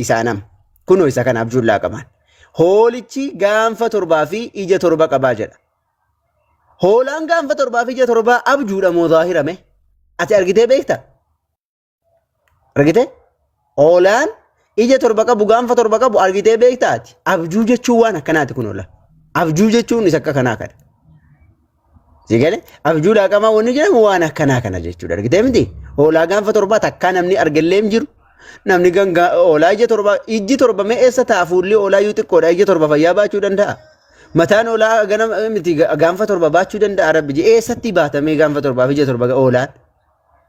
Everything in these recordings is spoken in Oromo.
Isaanam. Kunoo isa kana abjuun laaqamaan. Hoolichi gaanfa torbaa fi ija torba qabaa jedha. Hoolaan gaanfa torbaa fi ija torbaa abjuudha moo zaahirame? Ati argitee beekta? Argitee? Hoolaan ija torba qabu gaanfa torba qabu argitee beekta ati? Abjuu jechuun waan akkanaati kun hoola. Abjuu jechuun isa akka kanaa kana. Si galee abjuu laaqamaa wanni jedhamu waan akkanaa kana jechuudha argitee miti hoolaa gaanfa torbaa takkaa namni argellee hin jiru namni gangaa hoolaa ija torba ijji torba mee eessa ta'a fuulli hoolaa iyyuu xiqqoodha ija torba fayyaa baachuu danda'a mataan hoolaa ganama miti gaanfa torba baachuu danda'a rabbi je eessatti baatamee gaanfa torbaaf ija torba hoolaan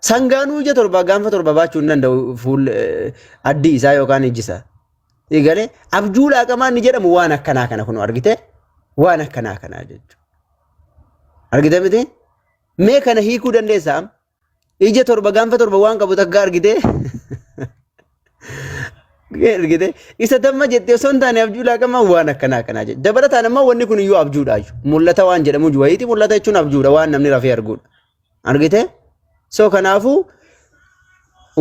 sangaanuu ija torba gaanfa torba baachuu hin danda'u fuul addii isaa yookaan ijji isaa. Eegalee abjuu laaqamaa inni jedhamu waan akkanaa kana kun argite waan akkanaa kana jechuudha. Argite miti? Mee kana hiikuu dandeessaa? Ija torba gaanfa torba waan qabu takka argite. Argite isa damma jettee osoo hin taane abjuu laaqamaa waan akkanaa kana jechuudha. Dabalataan ammoo wanni kun iyyuu abjuudhaayyuu. Mul'ata waan jedhamu wayiiti mul'ata jechuun abjuudha waan namni rafee arguudha. argite so kanaafuu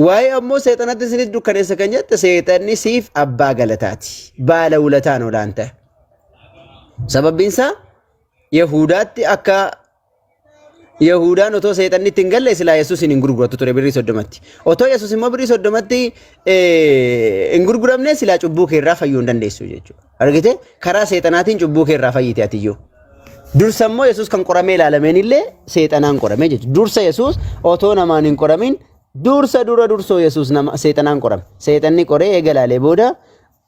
waa'ee ammoo seexanatti isinis dukkaneessa kan jette seexanni siif abbaa galataati baala ulataan olaan ta'e sababbiin isaa yahudaatti akka Yahudaan otoo seexanni itti hin galle silaa Yesuus hin gurguratu ture birrii soddomatti. Otoo Yesuus immoo birrii soddomatti hin gurguramne silaa cubbuu kee irraa fayyuu hin dandeessu jechuudha. Argite karaa seexanaatiin cubbuu kee irraa fayyite atiyyuu. Dursa immoo Yesuus kan qoramee ilaalameen illee seexanaan qorame jechuudha. Dursa Yesuus otoo namaan hin qoramin dursa dura dursoo Yesuus nama seexanaan qorame. Seexanni qoree eega ilaalee booda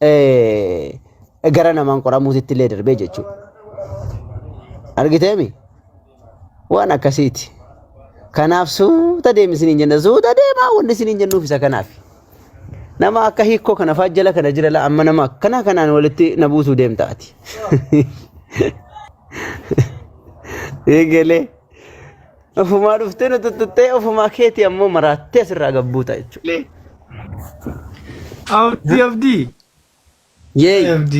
eh, gara namaan qoramuutitti illee darbee jechuudha. Argiteemi? Waan akkasiiti. Kanaaf suuta deemi isiniin jenna. Suuta deemaa wanni isiniin jennuuf isa kanaaf. Nama akka hiikkoo kana fa'aa jala kana jira laa amma nama akkana kanaan walitti na buusuu deemta ati. Eegalee. Ofumaa dhuftee nu tuttuttee ofumaa keetii ammoo maraattee asirraa gabbuuta jechuudha. Abdii abdii. Yay! FD.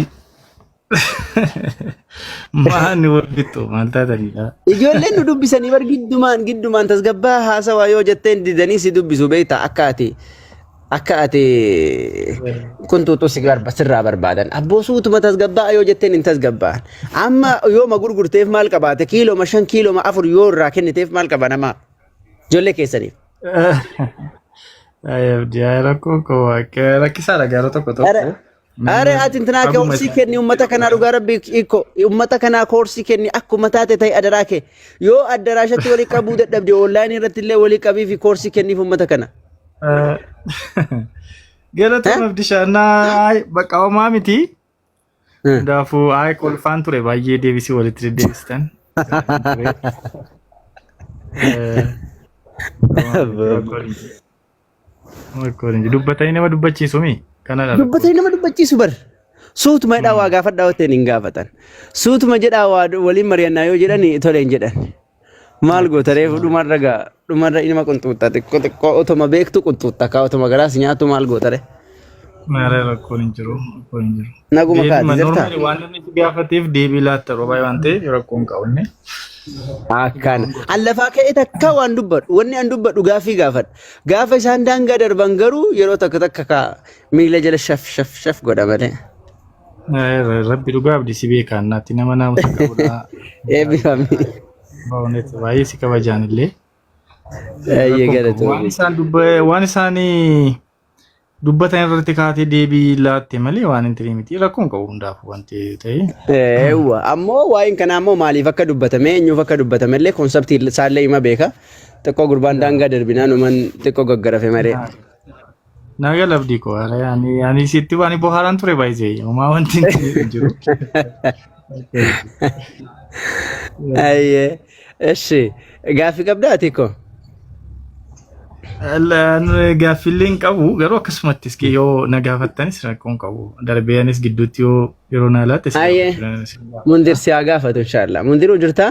Mahaan ni walfixxu maal taataniidha. Ijoolleen nu dubbisanii bar giddumaan giddumaan tasgabbaa haasawaa yoo jetteen didanii si dubbisu beektaa akka ati akka ati kun tuutuu si barba sirraa barbaadan abboo suutuma tasgabbaa yoo jetteen hin tasgabbaan amma yooma gurgurteef maal qabaate kiiloma shan kiiloma afur yoo irraa kenniteef maal qaba namaa Ijoollee keessaniif. Abdiyaa rakkoo koo waaqee rakkisaadha gaara tokko tokko. Are are ati intinaa kee horsii kenni ummata kanaa dhugaa rabbi ikko ummata kanaa horsii kenni akkuma taate ta'e adaraa kee yoo addaraashatti walii qabuu dadhabde onlaayinii irratti illee walii qabii fi horsii kenniif ummata kana. Galatoon abdishaa naa bakka homaa miti. Hundaafuu ayi kolfaan ture baay'ee deebisii walitti deddeebistan. Dubbatanii nama dubbachiisu mi? Kana dha. Dubbatanii nama dubbachiisu bar. Suutuma jedhaa waa gaafadhaa otteen hin gaafatan. Suutuma jedhaa waa waliin mari'annaa yoo jedhan tole hin jedhan. Maal goota reefu dhumarra gaa dhumarra inuma qunxuuxxa xiqqoo xiqqoo otoma beektu qunxuuxxa kaa otoma garaas nyaatu maal goota re. Maaree rakkoon hin jiru. Rakkoon hin jiru. Naguma kaati Deebiima jirtaa? normali waan inni si gaafateef deebii laatta yeroo baay'ee waan ta'eef rakkoo hin qabu inni. Akkaan. An lafaa ka'ee takka waan dubbadhu. Wanni an dubbadhu gaaffii gaafadha. Gaafa isaan daangaa darban garuu yeroo takka takka kaa miila jala shaf shaf shaf godha malee. Rabbi dhugaa abdi si beekaa naatti nama naamusa qabudha. Eebbifami. Ba'uunet baay'ee si kabajaan illee. Baay'ee Waan galatoomi. isaan dubba waan isaan dubbatan irratti kaatee deebii laatte malee waan hin taane miti rakkoon qabu hundaaf wanti ta'e. Eewwa ammoo waa'een kanaa immoo maaliif akka dubbatame eenyuuf akka dubbatame illee konseptii isaallee hima beeka. Xiqqoo gurbaan daangaa darbinaan uuman xiqqoo gaggarafe malee. Naga labdii koo haala ani ani sitti waan bohaaraan ture baay'ee homaa wanti hin jiru. Ayyee. Eshi. Gaaffii qabdaa ati koo? Gaaffiillee hin qabu garuu akkasumatti iski yoo na gaafattanis rakkoo hin qabu darbee anis gidduutti yoo yeroo na laatte. Ayyee. Mundir si haa gaafatu inshaallah. Mundiruu jirtaa?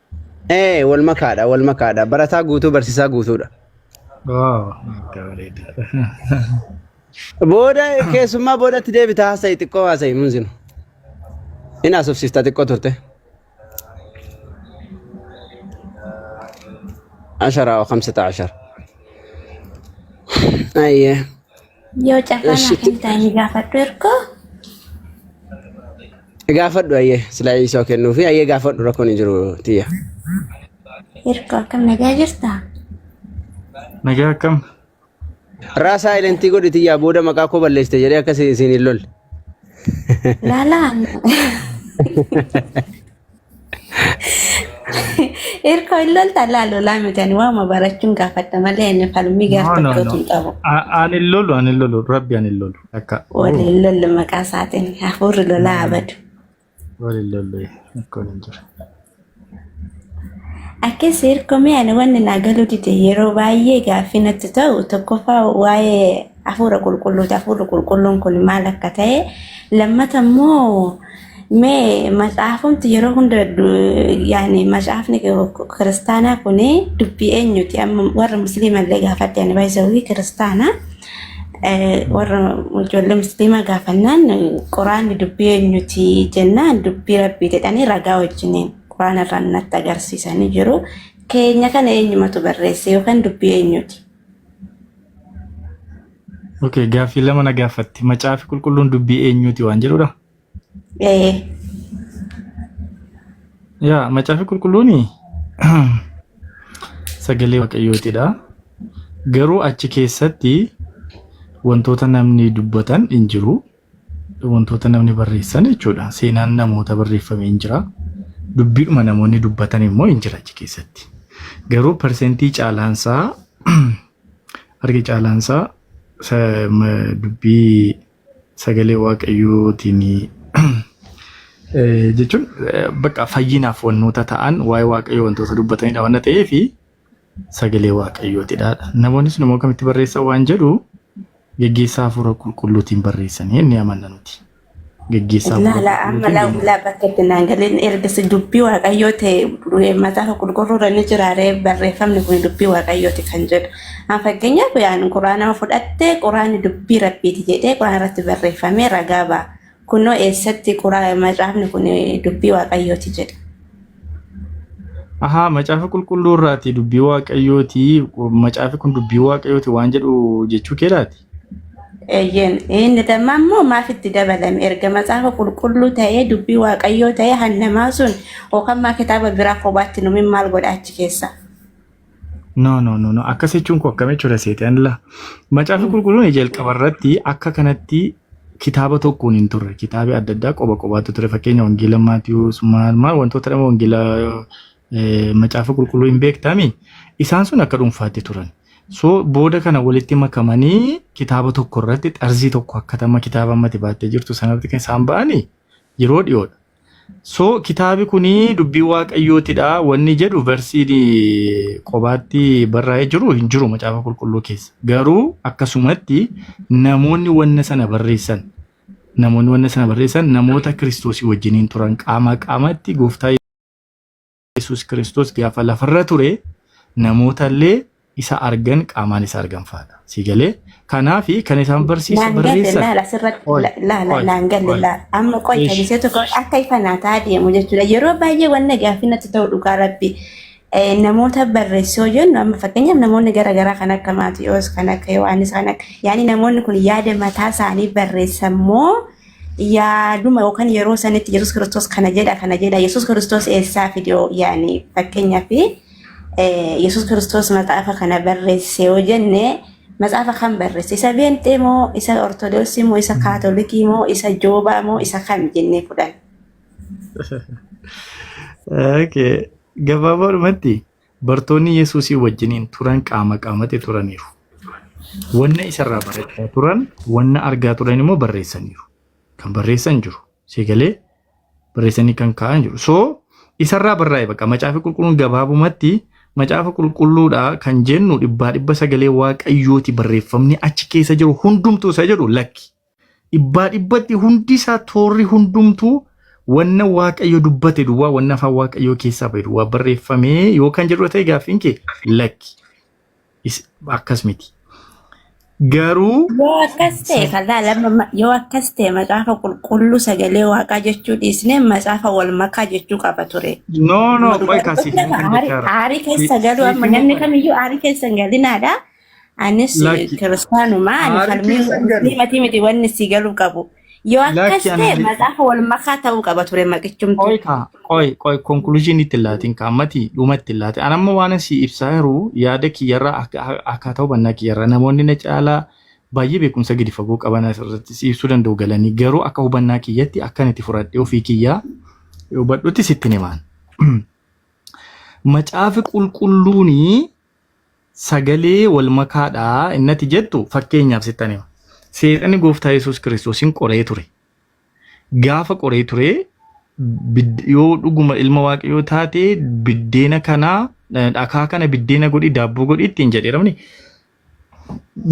Ee wal makaadha wal makaadha barataa guutuu barsiisaa guutuudha. Waaw. Akka bareedaadha. Booda keessummaa boodatti deebita haasa'i xiqqoo haasa'i munzinu. Inni asofsiista xiqqoo turte. Asharaa wa kamsata ashar. Ayyee. Yoo carraa Eesh, naaf itti- hin taane gaafadhu ergoo. Gaafadhu ayyee silaa isoo kennuufi ayyee gaafadhu rakkoon hin jiru tiyya. Ergoo akkam nagaa jirtaa? Nagaa akkam? Raa saayilentii godhi tiyyaa booda maqaa koo balleessite jedhee akka isin isin hin lolle. Laalaan. Irkoo hin lolta laa lolaa miti ani waama barachuun gaafadha malee inni falmii gaaf No, no, tokkootu no. hin qabu. A- Ani hin lolu, ani hin lolu. Rabbi ani hin lolu. Akka Waliin lollu maqaa isaatiin hafuurri lolaa abadu. wal hin lolu. Akkoon hin jiru. Akkas hirkomee ani wanni naa galuu dide yeroo baay'ee gaaffii natti ta'u tokkoffaa waa'ee Hafuura qulqulluuti. Hafuurri qulqulluun kun maal akka ta'e lammata immoo mee macaafumti yeroo hunda yaani macaafni kiristaanaa kun dubbii eenyuti amma warra musliima illee gaafadhe ani baay'isawii kiristaana warra ijoollee musliimaa gaafannaan quraanni dubbii eenyuti jennaan dubbii rabbii jedhanii ragaa wajjiniin quraana irraa natti agarsiisanii jiru keenya kana eenyumatu barreesse yookaan dubbii eenyuti. Okay, gaaffii lama na gaafatti. Macaafi qulqulluun dubbii eenyuuti waan jedhudha. Ee, Yaa macaafi qulqulluun sagalee waaqayyootidha. Garuu achi keessatti wantoota namni dubbatan hin jiru. wantoota namni barreessan jechuudha. Seenaan namoota barreeffame hin jira. Dubbiidhuma namoonni dubbatan immoo hin jira achi keessatti. Garuu parsentii caalaansaa arge caalaansaa sa- ma- dubbii sagalee waaqayyootiin eh, jechuun eh, bakka fayyinaaf wantoota ta'an waa'ee waaqayyoo wantoota dubbatanidha waan ta'eef sagalee waaqayyootidha. Namoonni sun immoo kamitti barreessan waan jedhu geggeessaa hafuura qulqulluutiin barreessan inni amanna nuti. Geggeessaa hafuura Laala amma qulqulluutiin laa'u deemaa. laabba ketti naan galeen ergasi dubbii waaqayyoo ta'e macaafa qulqulluurra ni jiraaree barreeffamni kun dubbii waaqayyooti kan jedhu. An fakkeenyaaf yaan quraanama fudhattee quraanni dubbii rabbiiti jedhee quraana irratti barreeffamee ragaa ba'a. Kunoo eessatti quraa macaafni kun dubbii waaqayyooti jedha. Ahaa macaafa qulqulluu irraati dubbii waaqayyooti macaafi kun dubbii waaqayyooti waan jedhu jechuu keedhaati. Eeyyeen inni damma immoo maaf itti dabalame erga macaafa qulqulluu ta'ee dubbii waaqayyoo ta'ee hannamaa sun yookaan maa kitaaba biraa kophaatti numin maal godha achi keessa. No, no, no, no. Akkas jechuun koo akkam jechuudha seexan la. Macaafni qulqulluun jalqaba irratti akka kanatti kitaaba tokkoon hin turre. Kitaabni adda addaa qoba qobaatu ture. Fakkeenya wangeela Maatiyuus maal maal wantoota dhama wangeela eh, macaafa qulqulluu hin beektami. Isaan sun akka dhuunfaatti turan. So booda kana walitti makamanii kitaaba tokko irratti xarzii tokko akkatama kitaaba ammati baattee jirtu sanarratti kan isaan ba'anii yeroo dhiyoodha. So kitaabi kun dubbii waaqayyootidha wanni jedhu versiin qobaatti barraa'ee jiru hin jiru macaafa qulqulluu keessa. Garuu akkasumatti namoonni wanna sana barreessan namoonni wanna sana barreessan namoota kiristoosii wajjiniin turan qaamaa qaamaatti gooftaa Yesuus Kiristoos gaafa lafarra ture namoota illee isa argan qaamaan isa argan fa'aadha. Si galee kanaaf kan isaan barsiisu Naan galle barreessan. laala asirratti Qoy, la- laala qoy, naan galle qoy. laala amma qoy Ish. tajaajila tokko akka ifa naa ta'a deemu jechuudha yeroo baay'ee wanna gaaffii natti ta'u dhugaa rabbi eh, namoota barreessoo jennu amma fakkeenyaaf namoonni garaagaraa kan akka Maatiyoos kan akka Yohaannis kan akka yaani namoonni kun yaada mataa isaanii barreessan moo yaaduma yookaan yeroo sanitti Yesuus Kiristoos kana jedha kana jedha Yesuus Kiristoos eessaa fide yaani fakkeenyaa fi Yesuus Kiristoos maxaafa kana barreesse yoo jenne maxaafa kan barreesse isa beenxee moo isa ortodoksii moo isa kaatolikii moo isa joobaa moo isa kam jennee fudhan. Okay. Gabaabaa dhumatti. Bartoonni Yesuusii wajjiniin turan qaama qaamatti turaniiru. Wanna isarraa barachaa turan, wanna argaa turan immoo barreessaniiru. Kan barreessan jiru. Sii galee barreessanii kan kaa'an jiru. So isarraa barraa'e baqa macaafa qulqulluun gabaabumatti macaafa qulqulluudha kan jennu dhibbaa dhibba sagalee waaqayyooti barreeffamni achi keessa jiru hundumtuu isa jedhu lakki. Dhibbaa dhibbatti hundi isaa toorri hundumtuu wanna Waaqayyo dubbate duwwaa, wanna afaan Waaqayyoo keessaa ba'e duwwaa barreeffamee yoo kan jedhu ta'e gaaffiin kee lakki. Is- Akkas miti. Garuu Yoo akkas ta'e kan laalama yoo akkas ta'e macaafa qulqulluu sagalee waaqaa jechuu dhiisnee macaafa wal makaa jechuu qaba ture. no no Amma qoy dhugaa kaasiif dubbachuuf hin kan aarii jechaa aarii keessa galuu amma namni kamiyyuu aarii keessa hin galinaadha. Anis Lakki. kiristaanuma ani Aarri falmii keessan garuu. musliimatii miti wanni si galuu qabu. Yoo akkas Lakki ta'e ani- macaafa wal makaa ta'uu qaba ture maqichumtu. Qoy kaa, qoy, qoy, conclusion itti laatiin kaa, mati dhuma itti laatiin. An amma waan si ibsaa jiru yaada kiyyarraa akka- akka- akkaataa hubannaa kiyyarraa namoonni na caalaa baay'ee beekumsa gadi fagoo qaban asirratti si ibsuu danda'u galanii garuu akka hubannaa kiyyatti akkan itti fudhadhee ofii kiyyaa hubadhutti sitti himaan. Macaafi qulqulluuni Sagalee wal makaa dha innati jettu fakkeenyaaf sittan hima. Seexanni gooftaa Yesuus Kiristoosin qoree ture. Gaafa qoree ture bid- yoo dhuguma ilma waaqayyoo taate biddeena kana eh, dhakaa kana biddeena godhi daabboo godhi ittiin jedheeramni.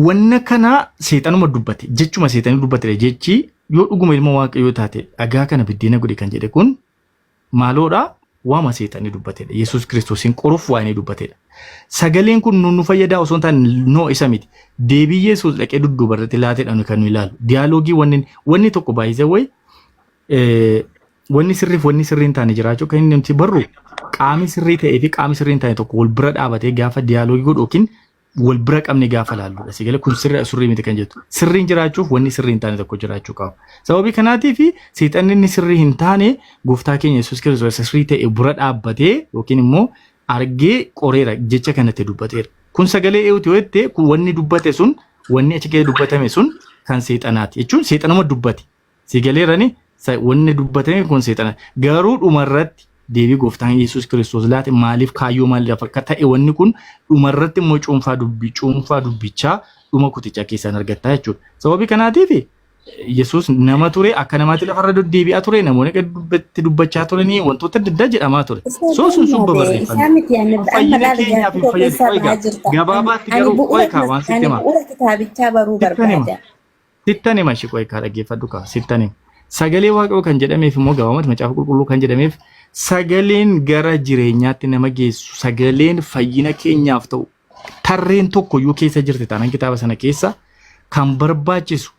Wanna kana seexanuma dubbate jechuma seexanni dubbatedha jechi yoo dhuguma ilma waaqayyoo taate dhagaa kana biddeena godhi kan jedhe kun maaloodha waama seexanni dubbatedha. Yesuus Kiristoosiin qoruuf waa inni dubbatedha. Sagaleen kun nu nu fayyadaa osoo hin taane noo isa miti. Deebii Yesuus dhaqee dudduuba irratti laatedha nuyi kan nu ilaalu. Diyaaloogii wanni wanni tokko baay'ise wayi wanni sirriif wanni sirrii hin taane jiraachuu kan inni nuti barru qaami sirrii ta'ee fi qaami sirrii hin taane tokko wal bira dhaabatee gaafa diyaaloogii godhu yookiin wal bira qabne gaafa laalludha. Si galee kun sirri sirrii miti kan jettu. Sirriin jiraachuuf wanni sirrii hin taane tokko jiraachuu qaba. Sababii kanaatiif seexanni inni sirrii hin taane gooftaa keenya Yesuus Kiristoos isa sirrii ta'e bira dhaabbatee yookiin immoo argee qoreera jecha kanatti dubbateera. Kun sagalee eewuti yoo jette kun wanni dubbate sun wanni achi keessa dubbatame sun kan seexanaati jechuun seexanuma dubbate. Si galeerani sa- wanni dubbatame kun seexana. Garuu dhumarratti deebii gooftaan Yesuus Kiristoos laate maaliif kaayyoo maaliidhaaf akka ta'e wanni kun dhumarratti immoo cuunfaa dubbi cuunfaa dubbichaa dhuma kutichaa keessaan argattaa jechuudha. Sababii kanaatiif Yesuus nama ture akka namaatti lafarra deddeebi'aa ture namoonni akka dubbatti dubbachaa turanii wantoota adda addaa jedhamaa ture. Isaa So sun sun barbaade, isaa barreeffame. miti ani Kun amma fayyina laala keenyaaf jaartii hin koo fayyadu. keessaa Qoy ba'aa gaa jirta. gabaabaatti Ani garuu qoy bu'uura kaa waan sitti ani himaa. bu'uura kitaabichaa baruu Sittan hima. barbaada. Sittan hima ishee qo'ee kaa dhaggeeffadhu kaa sittan hima. Sagalee waaqayoo kan jedhameef immoo gabaabumatti macaafa qulqulluu kan jedhameef sagaleen gara jireenyaatti nama geessu sagaleen fayyina keenyaaf ta'u tarreen tokko iyyuu keessa jirti taanaan kitaaba sana keessa kan barbaachisu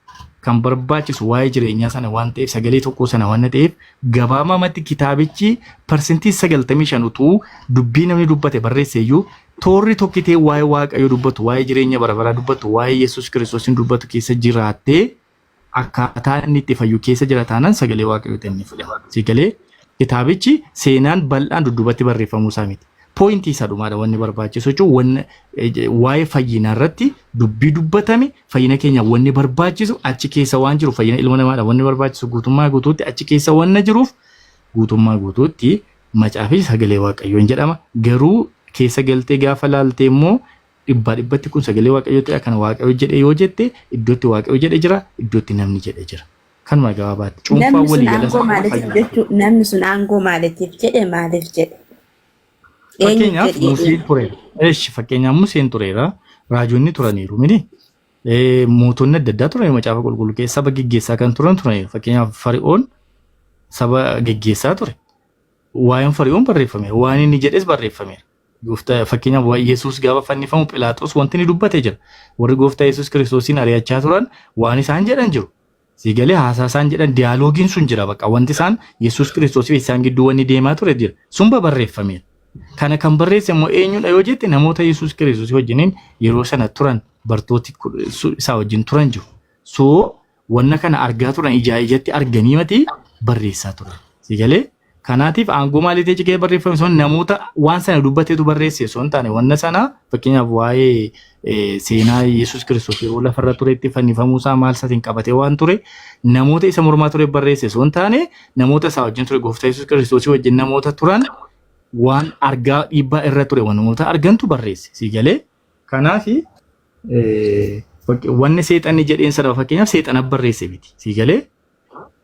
kan barbaachisu waa'ee jireenyaa sana waan ta'eef sagalee tokkoo sana waan ta'eef gabaabumatti kitaabichi parsentii 95 utuu dubbii namni dubbate barreesse iyyuu Toorri tokkitee waa'ee Waaqayyoo dubbatu, waa'ee jireenya bara baraa dubbatu, waa'ee Yesuus Kiristoosiin dubbatu keessa jiraattee akkaataa inni itti fayyu keessa jira taanaan sagalee Waaqayyoo ta'e inni fudhama. Si galee kitaabichi seenaan bal'aan dudduubatti barreeffamuu isaa miti. Pooyintii isa dhumaadha wanni barbaachisu jechuun wanni eh, waa'ee fayyinaa irratti dubbii dubbatame fayyina keenya wanni barbaachisu achi keessa waan jiru fayyina ilma namaadha wanni barbaachisu guutummaa guutuutti achi keessa wanna jiruuf guutummaa guutuutti Macaafichi sagalee Waaqayyoo hin jedhama. Garuu keessa galtee gaafa laaltee immoo dhibbaa dhibbatti kun sagalee Waaqayyoo ta'e akkana Waaqayyo jedhe yoo jette iddootti Waaqayyo jedhe jira, iddootti namni jedhe jira. Kanuma gabaabaatti cuunfaa Namni sun walii gala aangoo isaa qofa maaliitiif fayyadamu. jechuu namni sun aangoo maaliitiif jedhe maaliif jedhe eenyuuf Fakkeenyaaf jedhe Museen tureera. Eesh fakkeenyaaf Museen tureera. Raajonni turaniiru mini. Eh, Mootonni adda addaa turan macaafa qulqulluu keessa saba geggeessaa kan turan turan fakkeenyaaf fari'oon saba geggeessaa ture. Waa'een fari'oon barreeffameera. Waan inni jedhes barreeffameera. Gooftaa fakkeenyaaf waa'ee Yesuus gaafa fannifamu Philaaxoos wanti inni dubbate jira. Warri gooftaa Yesuus kiristoosiin ari'achaa turan waan isaan jedhan jiru. Sii galee haasaa isaan jedhan diyaaloogiin sun jira baqa wanti isaan Yesuus Kiristoos fi isaan gidduu wanni deemaa ture jira sun babarreeffameera. Kana kan barreesse immoo eenyudha yoo jette namoota Yesuus Kiristoos wajjiniin yeroo sana turan bartooti isaa wajjin turan jiru. So wanna kana argaa turan ijaa ijatti arganii mati barreessaa turan. Sii galee? Kanaatiif aangoo maaliitiin cigee barreeffame sun namoota waan sana dubbateetu barreesse osoo hin taane wanna sana fakkeenyaaf waa'ee seenaa Yesuus Kiristoos yeroo lafarra turetti fannifamuu isaa maal isaatiin qabatee waan ture namoota isa mormaa ture barreesse osoo hin taane namoota isaa wajjin ture gooftaa Yesuus Kiristoosii wajjin namoota turan waan argaa dhiibbaa irra ture waan namoota argantu barreesse sii galee kanaaf wanni seexanni jedheen sana fakkeenyaaf seexana barreesse miti sii galee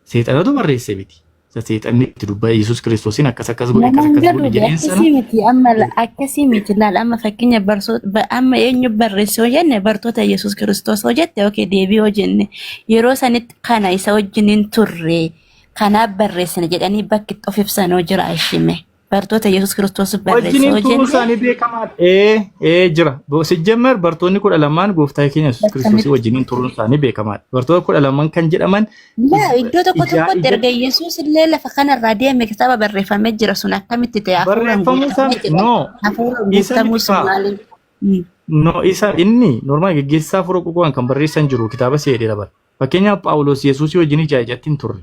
Seexanatu barreesse miti. Isa seexanni itti dubbate Yesuus Kiristoosiin akkas akkas godhe akkas Namaan akkas godhe galuufi jedheen sana akkasii miti amma la- akkasii miti laal amma fakkeenya barsoota ba- amma eenyu barreesse yoo jenne bartoota Yesuus Kiristoos yoo jette yookiin deebii yoo jenne yeroo sanitti kana isa wajjin hin turre kanaaf barreessina jedhanii bakki itti of ibsan yoo jira ishime Bartoota Yesuus Kiristoos barreesse wajjiniin yoo turuun jenne isaanii beekamaadha. Ee, ee jira. Bo- Sijjammer bartoonni kudha lamaan gooftaa keenya Yesuus Kiristoosii wajjiniin turuun isaanii beekamaadha. Bartoota kudha lamaan kan jedhaman Laa ij- iddoo tokko ijaa tokkotti ija erga Yesuus illee lafa kanarraa deeme kitaaba barreeffamee jira sun akkamitti ta'e hafuuraan barreeffamuu isaa guutamee miti. jedha. No, Hafuuraan isa guutamuu miti sun kaa. maaliin? Mm. No, isa inni normaal geggeessaa fura ququwaan kan barreessan jiru kitaaba seedheera bara. Fakkeenyaaf Phaawulos Yesuusii wajjin ijaa ijatti hin turre.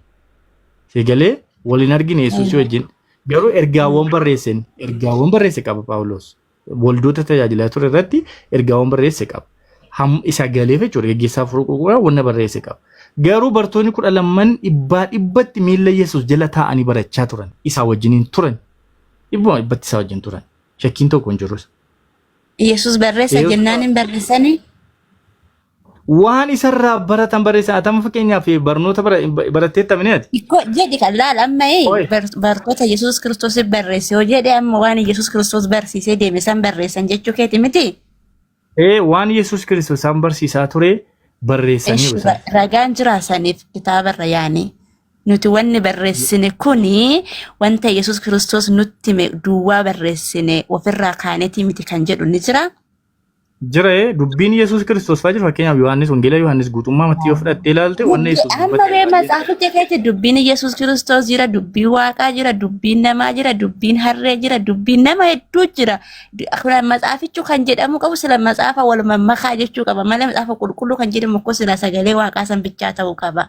Si galee wal hin argine Yesuusii wajjin. Garuu ergaawwan barreesse inni. ergaawwan barreesse qaba Phaawulos. Waldoota tajaajilaa ture irratti ergaawwan barreesse qaba. Ham isa galeef jechuudha geggeessaa furuu qulqullaa wanna barreesse qaba. Garuu bartoonni kudha lamman dhibbaa dhibbatti miilla Yesuus jala taa'anii barachaa turan. Isaa wajjin hin turan. Dhibbuma dhibbatti isaa wajjin turan. Shakkiin tokko hin jiru. Yesuus barreessa Yesuus- jennaan hin barreessanii. waan isarraa baratan barreessa atama fakkeenyaaf barnoota bara- baratteetta mini ati Ikko jedhi kan laal amma ee, Oi. bar- bartoota Yesuus Kiristoos barreesse yoo jedhe amma waan Yesuus Kiristoos barsiisee deeme san barreessan jechuu keeti miti. ee waan yesus kiristoos isaan barsiisaa ture barreessaniiru Eshi, isaan Ragaan jiraa saniif kitaabarra yaani. Nuti wanni barreessine kuni wanta Yesuus Kiristoos nutti hime duwwaa barreessine ofirraa kaanetii miti kan jedhu ni jira. Jira ee dubbiin Yesuus Kiristoos fa'aa jira fakkeenyaaf Yohaannis Wangeela Yohaannis guutummaa mattii yoo fudhattee ilaalte wanna Dubbii Yesuus amma dubbate bee baay'ee matsaaficha keessa dubbiin Yesuus Kiristoos jira, dubbiin Waaqaa jira, dubbiin namaa jira, dubbiin harree jira, dubbiin nama hedduu jira. Du- Kun matsaafichu kan jedhamu qabu sila matsaafa wal mammakaa jechuu qaba malee matsaafa qulqulluu kan jedhamu kun sila sagalee Waaqaa san bichaa ta'uu qaba.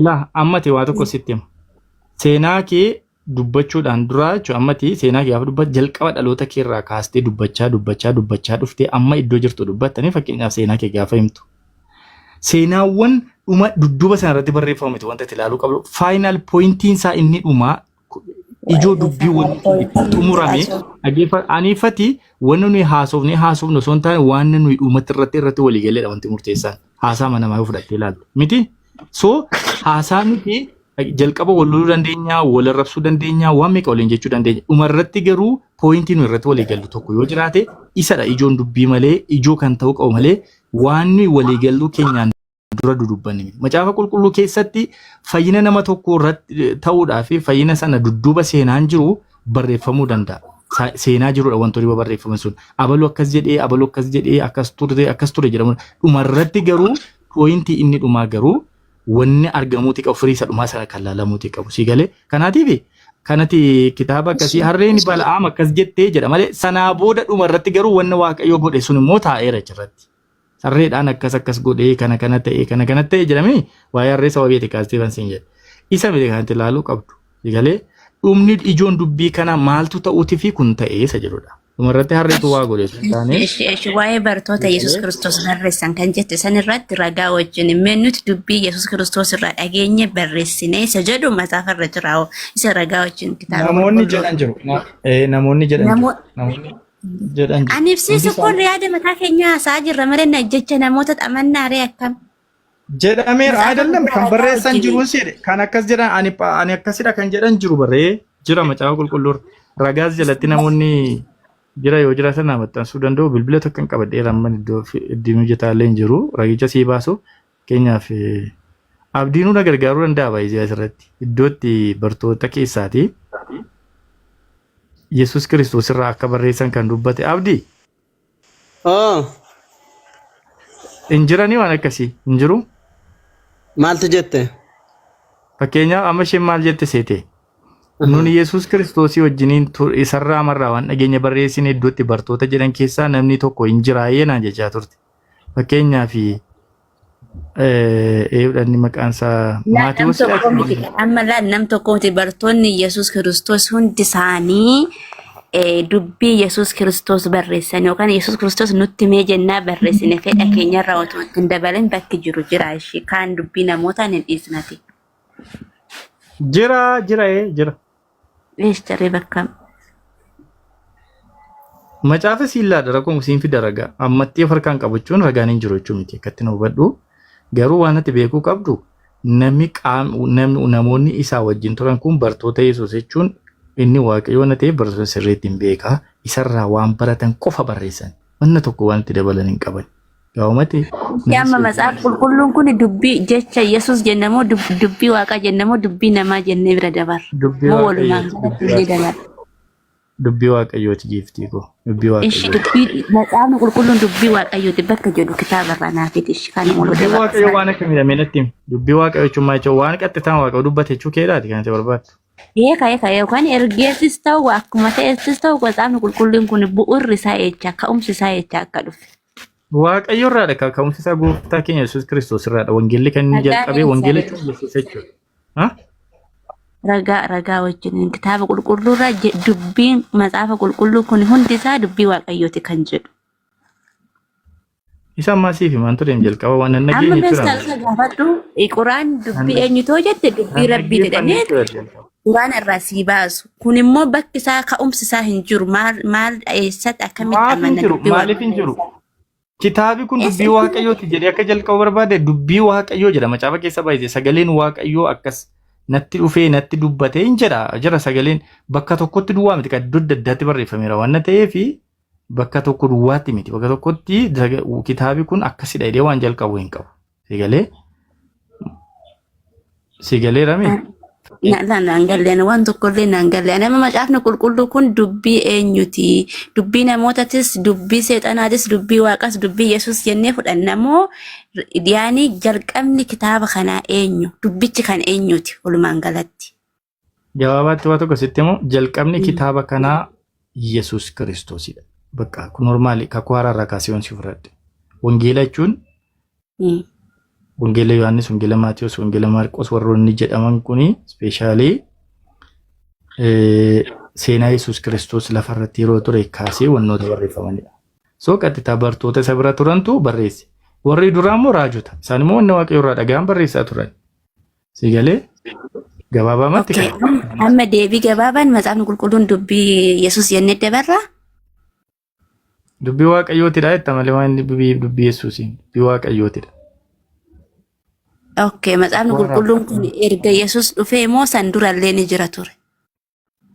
Ilaa ammati waa tokko sitti hima. Seenaa kee dubbachuudhaan duraa jechuun ammati seenaa kee gaafa dubbatte jalqaba dhaloota kee irraa kaastee dubbachaa dubbachaa dubbachaa dhuftee amma iddoo jirtu dubbattanii fakkeenyaaf seenaa kee gaafa himtu. Seenaawwan dhuma dudduuba sana irratti barreeffamu miti wanta itti ilaaluu qabdu faayinaal pooyintiin isaa inni dhumaa ijoo dubbii wanni xumurame dhageeffa aniifati wanni nuyi haasofne haasofne osoo hin taane waan nuyi dhumatti irratti irratti walii galeedha wanti murteessaan haasaa mana namaa yoo fudhattee ilaaltu miti so haasaa miti jalqaba wal loluu dandeenya wal arrabsuu dandeenya waan meeqa waliin jechuu dandeenya dhuma irratti garuu pooyintii nuyi irratti walii gallu tokko yoo jiraate isadha ijoon dubbii malee ijoo kan ta'uu qabu malee waan nuyi walii galluu keenyaan dura dudubbanne miti. Macaafa qulqulluu keessatti fayyina nama tokko irratti ta'uudhaa fi fayyina sana dudduuba seenaan jiru barreeffamuu danda'a. Sa- Seenaa jirudha wantoonni barreeffaman sun. Abaluu akkas jedhee, abaluu akkas jedhee, akkas ture, akkas ture jedhamu. Dhumarratti garuu pooyintii inni dhumaa garuu wanni argamuuti qabu firii isa dhumaa sana kan laalamuuti qabu. Si galee kanaatiif kanati kitaaba akkasii harreen bala'aam akkas jettee jedha malee sanaa booda dhumarratti garuu wanni waaqayyo godhe sun immoo taa'eera achirratti. Tarreedhaan akkas akkas godhee kana kana ta'e kana kana ta'e jedhamee waa'ee harree sababii itti kaasteefan siin jedhe. Isa miti kan itti ilaaluu qabdu. Galee dhumni ijoon dubbii kana maaltu ta'uuti fi kun ta'ee isa jedhudha. Dhumarratti harreetu waa godhe sun taane. Eshi eshi waa'ee bartoota Yesuus Kiristoos barreessan kan jette san irratti ragaa wajjin mee nuti dubbii Yesuus Kiristoos irraa dhageenye barreessine isa jedhu macaafa irra jiraa'u isa ragaa wajjin kitaaba Namoonni qulqulluu. jedhan jiru. Na- eh, Namoonni jedhan jiru. Namo- Namoonni jedhan Ani ibsiisu kun isaanii yaada mataa keenyaa haasa'aa jirra malee na jecha namoota xamannaa ree akkam. jedhameera Matsaafa ayidallam guddaa kan ragaa barreessan wajjin. jiruun seedhe kan akkas jedhan ani pa- ani akkasidha kan jedhan jiru barree jira macaafa qulqulluur ragaas jalatti namoonni jira yoo jiraatan naa maxxansuu danda'u bilbila tokko hin qabadheera amma iddoo fi- iddin hojjetaallee hin jiru ragicha sii baasuuf Fakkeenyaaf abdiinuu na gargaaruu danda'a baay'ee asirratti iddootti bartoota keessaati Yesuus Kiristoos irraa akka barreessan kan dubbate abdi Oo, hin jiranii waan akkasii hin jiru. maaltu jette? Fakkeenyaaf amma isheen maal jette seete? Nuni Yesuus Kiristoosii wajjiniin tu- isarraa marraa waan dhageenya barreessine iddootti bartoota jedhan keessaa namni tokko hin jiraayee naan jechaa turte. Fakkeenyaaf eeyyuudhaan maqaan isaa Laal nam Maatiwoos tokko miti. Amma laal nam tokko miti. Bartoonni Yesuus Kiristoos hundi isaanii eh, dubbii Yesuus Kiristoos barreessan yookaan Yesuus Kiristoos nutti mee jennaa barreessine fedha keenyarra otoo itti hin dabalin bakki jiru jira ishee kaan dubbii namootaan hin dhiisnati. jira jira ee jira. Eesh caree bakka Macaafa siin laadha rakkoo siin fida ragaa ammattii of harkaan qabachuun ragaan hin jiru jechuu miti akkatti nu hubadhu garuu waan ati beekuu qabdu namni qaam namni namoonni isaa wajjin turan kun bartoota Yesuus jechuun inni waaqayyoo na ta'eef bartoota sirriitti hin beekaa isarraa waan baratan qofa barreessan wanna tokko waan itti dabalan hin qaban Gaa'umatti Yaa amma matsaaf qulqulluun kun dubbii jecha Yesuus jenna moo dub- dubbii waaqaa jenna moo dubbii namaa jennee bira dabar dubbii moo walumaan waaqayyooti galatti illee dabar dubbii dubbii waaqayyooti giiftii koo dubbii ishi waaqayyooti. dubbii matsaafni qulqulluun dubbii waaqayyooti bakka jedhu kitaaba irraa naafiti ishi kan waluu Dubbii dabar waaqayyoo waan akkamidha mee natti himi. Dubbii waaqayyoo jechuun maal jechuudha? Waan qaxxitaan waaqayyoo dubbate jechuu keedhaati kan itti barbaaddu. Ee ka'e ka'e yookaan ergeessis ta'u akkuma ta'essis ta'u matsaafni qulqulluun kun bu'uurri isaa eecha ka'umsi isaa eecha akka dhufe Waaqayyo irraadha ka- ka'umsi isaa gooftaa keenya Yesuus Kiristoos irraadha. Wangeelli kan inni Ragaa jalqabee eessa wangeela jechuun jechuudha? Yesuus jechuudha. Ha? Ragaa ragaa wajjin kitaaba qulqulluu irraa je- dubbiin macaafa qulqulluu kun hundi isaa dubbii waaqayyooti kan jedhu. Isa ammaa siif himaan ture hin jalqaba waan hin Amma dhageenye mees jira. kan isa gaafadhu quraan dubbii eenyutoo jette dubbii Hin rabbii dhaggeeffanne jedhamee jira jalqaba. Quraana irraa sii baasu. Kun immoo bakki isaa ka'umsi isaa hin jiru. Maal maal eessatti akkamitti Maaf hin amanna jiru? dubbii Maaliif hin waaqayyoo jiru? isa. Kitaabi kun Eessa dubbii itti waaqayyooti jedhee akka jalqabu barbaade dubbii waaqayyoo jedha. Macaafa keessa baay'ise sagaleen waaqayyoo akkas natti dhufee natti dubbate hin jedha. Jira sagaleen bakka tokkotti duwwaa miti kan iddoo adda addaatti barreeffameera waan ta'eef bakka tokko duwwaatti miti. Bakka tokkotti saga- kitaabi kun akkasidha jedhee waan jalqabu hin qabu. Si galee? Si galee rame? Naan galleen waan tokkollee naan galleen nama macaafni qulqulluu kun dubbii eenyuti dubbii namootatis dubbii seexanaatis dubbii waaqas dubbii yesus jennee fudhanna moo yaani jalqabni kitaaba kanaa eenyu dubbichi kan eenyuti walumaan galatti. Gabaabaatti waa tokko sitti immoo jalqabni kitaaba kanaa Yesuus Kiristoosidha. Bakka kun normaali kakuu haaraa irraa kaasee wansi fudhadhe. Wangeela jechuun Wangeela Yohaannis, Wangeela Maatiyus, Wangeela Maarqos warroonni jedhaman kuni ispeeshaalii seenaa Yesuus Kiristoos lafa irratti yeroo ture kaasee wantoota barreeffamanidha. So qaxxitaa bartoota isa bira turantu barreesse. Warri duraa immoo raajota. Isaan immoo wanna waaqayyo irraa dhagahan barreessaa turan. Si galee gabaabamatti Okay. kan Amma amma deebii gabaabaan macaafni qulqulluun dubbii Yesuus jennee dabarra. dubbii waaqayyootidha jetta malee waan inni dubbii dubbii Yesuusiin dubbii waaqayyootidha. Okay. Macaafni Warra- qulqulluun kun erga Yesuus dhufee moo san durallee ni jira ture?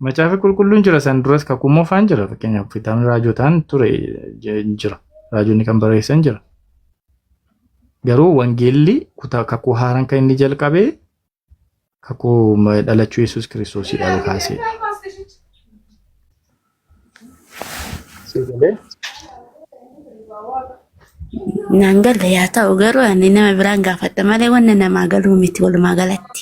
Macaafi qulqulluun jira san duras kakuu moofaan jira fakkeenyaaf kitaabni raajotaan ture jira raajonni kan barreessan jira. Garuu wangeelli kutaa kakuu haaraan kan inni jalqabe kakuu dhalachuu Yesuus Kiristoosidha kaasee. Naan galle yaa ta'u garuu ani nama biraan gaafadha malee wanna namaa galuu miti walumaa galatti.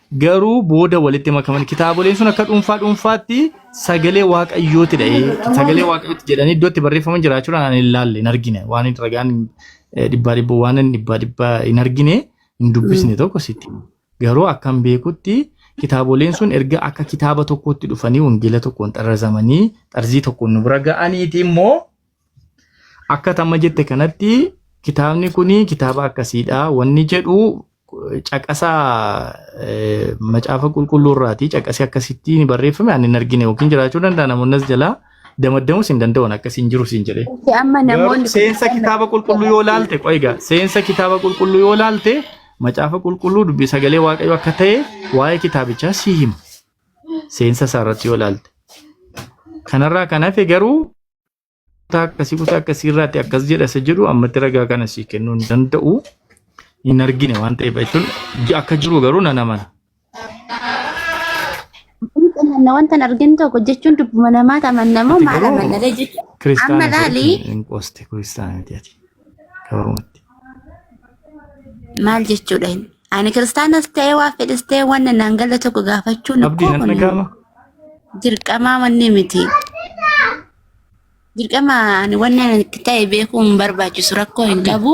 garuu booda walitti makaman kitaaboleen sun akka dhuunfaa dhuunfaatti sagalee waaqayyooti dha sagalee waaqayyooti jedhanii iddoo itti barreeffaman jiraachuudhaan ani hin laalle hin argine waan hin ragaan eh, dhibbaa dhibboo waan hin dhibbaa dhibbaa hin argine hin dubbisne tokko sitti hima. garuu akkan beekutti kitaaboleen sun erga akka kitaaba tokkootti dhufanii wangeela tokkoon xarrazamanii xarzii tokkoon nu bira ga'aniiti immoo Akka tamma jette kanatti kitaabni kun kitaaba akkasiidha. Wanni jedhu caqasa macaafa qulqulluu irraati. Caqasi akkasitti barreeffame ani hin argine yookiin jiraachuu danda'a namoonni as jalaa damaddamus hin danda'an akkasiin jiru siin jedhee. Amma namoonni seensa kitaaba qulqulluu yoo laalte qoiga seensa kitaaba qulqulluu yoo laalte macaafa qulqulluu dubbii sagalee waaqayyo akka ta'e waa'ee kitaabichaa si hima seensa isaa irratti yoo laalte kanarraa kan hafe garuu kutaa akkasii kutaa akkasii irraatti akkas jedha isa jedhu ammatti ragaa kana sii kennuu hin danda'u hin argine waan ta'eef jechuun akka jiru garuu nan amana. Amanna wanta hin argin tokko jechuun dubbuma namaati amanna moo Ati maal garuu amanna jechuudha. Amma kiristaanaa laali. hin qoste kiristaanaa miti ati. gabaabumatti. Maal jechuudha inni? Ani kiristaanas ta'ee waa fedhes ta'ee waan naan galle tokko gaafachuun Abdii koo nan kun dhaga'ama. dirqamaa wanni miti. Dirqama ani wanni ani itti ta'e beekuu hin barbaachisu rakkoo hin qabu.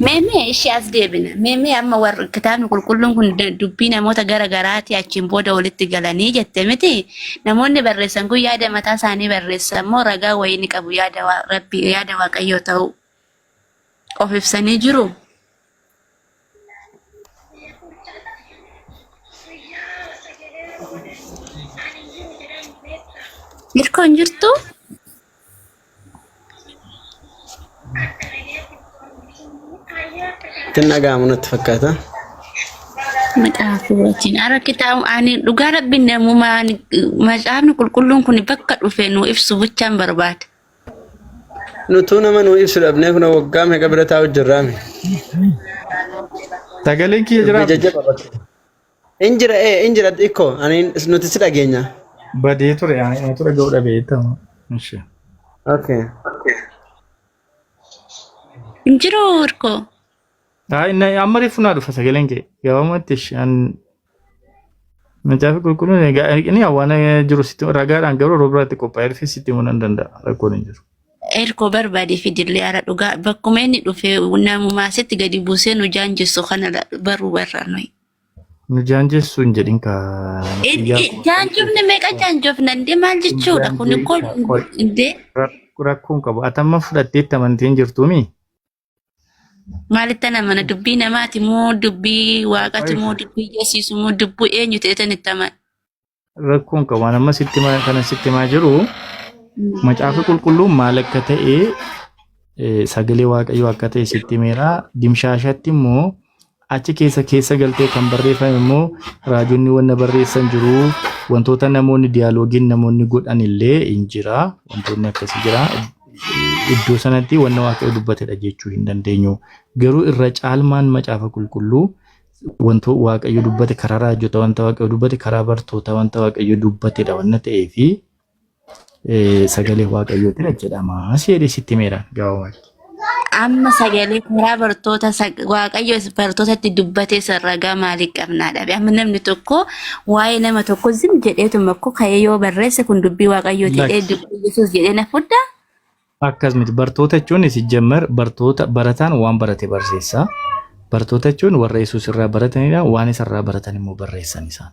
Meemee ishee as deebina. Meemee amma warri kitaabni qulqulluun kun da- dubbii namoota gara garaati achiin booda walitti galanii jette miti. Namoonni barreessan kun yaada mataa isaanii barreessan moo ragaa wayii ni qabu yaada waa- rabbii yaada waaqayyoo ta'uu of ibsanii jiru. Mirkoo hin jirtu? Ittiin dhaga'amu natti fakkaata. Maxaafi wajjin. Ara kitaaba ani dhugaa rabbiin namuma ani macaafni qulqulluun kun bakka dhufe nu ibsu bichaan barbaada. Nutuu nama nuu ibsu dhabnee kunoo waggaa meeqa bira taa'u jirraame. Sagaleen kiyya Dubbii jiraaf jajjaba bakka. In jira ee in jira ikkoo ani nuti si dhageenya. badee ture ani anatu dhaga'uu dhabe jettama. Ishi. Okay. Hin jiru hirkoo. Haa inni amma reefu naa dhufa sagaleen kee gabaamatti ishi an Macaafi qulqulluun egaa ergini waan jiru sitti ragaadhaan garuu yeroo biraatti qophaa'ee dhufee sitti himuu nan danda'a rakkoon hin jiru. Erkoo barbaade fidillee hara dhugaa bakkuma inni dhufe namumaa sitti gadi buusee nu jaanjessu kana la- baruu barra nuyi. Nu jaanjessu hin jedhin kaa xiyyaa koo kan Jaanjofne meeqa jaanjofna indee maal hin jechuudha kun jaanjee koo kaa qoy indee ra- rakkoon qabu atamma fudhatteetti amantiin jirtuumi Maalitti amana dubbii namaati moo dubbii waaqati moo dubbii yeesiisu moo dubbii eenyu ta'etan itti amana. Rakkoon qabu waan amma sitti himaa- kana sitti himaa jiru macaafa qulqulluun maal akka ta'e eh, sagalee waaqayyoo akka ta'e sitti himeera dimshaashatti immoo Achi keessa keessa galtee kan barreeffame immoo raajonni wanna barreessan jiru wantoota namoonni diyaaloogiin namoonni godhan illee hin jira wantoonni akkasii jira iddoo sanatti wanna waaqayyo dubbatedha jechuu hin dandeenyu garuu irra caalmaan macaafa qulqulluu wanto waaqayyo dubbate karaa raajota wanta waaqayyo dubbate karaa bartoota wanta waaqayyo dubbatedha wanna ta'ee fi sagalee waaqayyootiin hojjetama si jedhee sitti himeera gabaabumatti. Amma sagalee karaa bartoota waaqayyo bartootatti dubbatee ragaa maalii qabnaa dhabe amma namni tokko waa'ee nama tokko zim jedheetuma koo ka'ee yoo barreesse kun dubbii waaqayyooti jedhee dubbii yesuus jedhee na fudhaa. Akkas miti bartoota jechuun sijjammar bartoota barataan waan barate barsiisa. Bartoota jechuun warra yesuus irraa baratanidha waan isarraa baratan immoo barreessan isaan.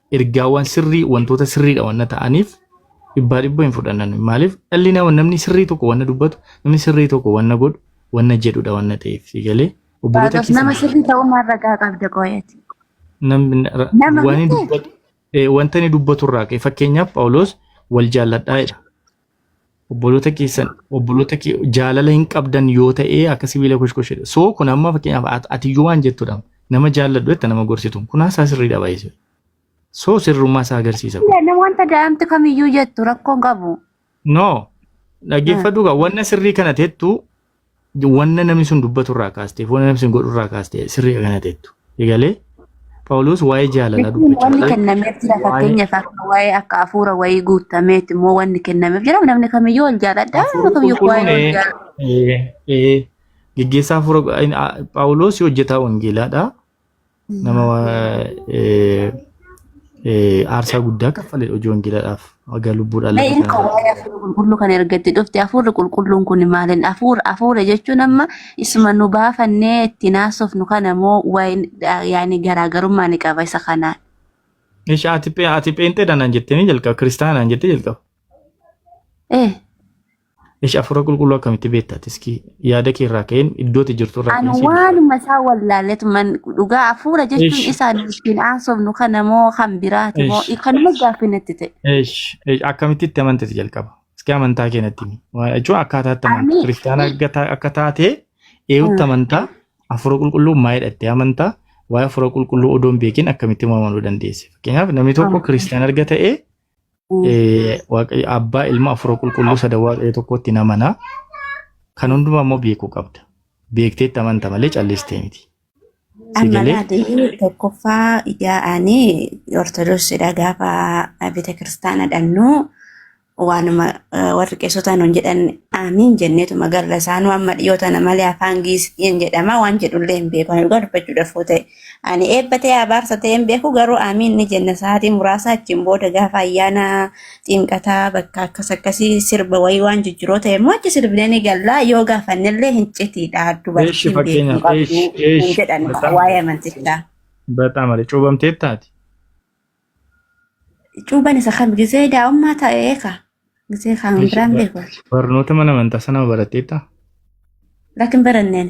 ergaawwan sirrii wantoota sirriidha wanna ta'aniif dhibbaa dhibba hin fudhannan maaliif dhalli nama namni sirrii tokko wanna dubbatu namni sirrii tokko wanna godhu wanna jedhudha wanna ta'eef galee obboloota Phaawulos nama keessa sirrii ta'uu maal ragaa qabda qoyati? namni ra- Nama waan inni miti? dubbatu eh, wanta inni dubbatu irraa ka'e fakkeenyaaf Phaawulos wal jaalladhaa jedha obboloota keessan obboloota kee jaalala hin qabdan yoo ta'e akka sibiila koshkoshedha. So kun amma fakkeenyaaf at- ati yoo waan jettudha nama jaalladhu jetta nama gorsitu kun haasaa sirriidha baay'ee. So sirrummaa isaa agarsiisa. kun. Ilaalle wanta daa'imti kamiyyuu jettu rakkoon qabu. No dhaggeeffadhu gaa wanna sirrii kana tettu wanna namni sun dubbatu irraa kaastee wanna namni sun godhu irraa kaastee sirrii kana teettu. Egalee Phaawulos waa'ee jaalalaa Jechuun dubbachaa wanni ture. kennameef jira Waa'ee fakkeenyaaf akka waa'ee akka hafuura wayii guutameeti immoo wanni kennameef jira namni kamiyyuu wal jaaladha namni hafuurri kamiyyuu qulqulluun waa'ee wal ee, jaalladha. ee, ee, geggeessaa hafuura Phaawulos hojjetaa wangeelaadha. nama aarsaa guddaa kaffalee hojii wangeelaadhaaf haga lubbuudhaan lafa Inni kana waa'ee hafuura qulqulluu kan ergatti dhufte hafuurri qulqulluun kun maaliin hafuura hafuura jechuun amma isuma nu baafannee itti naasofnu kana moo waa'een yaani garaagarummaa ni qaba isa kanaan. Ishi ati pe- ati pheenxeedha naan jettee ni jalqaba kiristaanaa naan jettee jalqaba. Eh, Ish afuura qulqulluu akkamitti beekta ati iski yaada kee irraa ka'een iddooti jirtu irraa Ani ka'een si ibsa. waanuma isaa wallaalletuman dhugaa hafuura jechuun Ish. isaa ittiin haasofnu kana moo kan biraati moo Ish. kanuma gaaffii natti ta'e. Ish ish, akkamitti itti amantati jalqaba. Iski amantaa kee natti himi. Waa- Jechuun akkaataa itti amantaa Ani- kiristaanaa akka ta- akka taatee eewutti amantaa afuura qulqulluu maayidha itti amantaa waa'ee afuura qulqulluu odoo hin beekin akkamitti uumamuu dandeesse. Fakkeenyaaf namni tokko kiristaana erga ta'ee Eh, Waaqayyo abbaa ilma afura qulqulluu sada waaqayyo tokkotti namana kan hundumaa immoo beekuu qabda beekteetti amanta malee callistee miti si Amma galee laatee tokkoffaa ijaa ani ortodoksiidha gaafa bita kiristaana dhannu waanuma eh, warri qeessota nuun jedhan aamiin jenneetuma garra isaanuu amma dhiyoo tana malee afaan giisiin jedhama waan jedhullee hin beeku ani dhugaa dubbachuudhaaf yoo ta'e Ani eebba ta'ee abaarsa ta'ee hin beeku garuu aamiin ni jenna sa'aatii muraasa achiin booda gaafa ayyaana xinqataa bakka akkas akkasii sirba wayii waan jijjiroo ta'e immoo achi sirbinee ni galla yoo gaafannellee hin citiidha Eeshi dubartii hin fakkeenya beeknu qabdu eeshi hin eeshi jedhan bataam waa'ee amantichaa. bataam ale cuubamtee taati. Cuuban isa kam gisee daa'ummaa ta'ee ka gisee kan Eeshi biraan ba- beeku barnoota mana amantaa sana baratteetta. lakin baranneen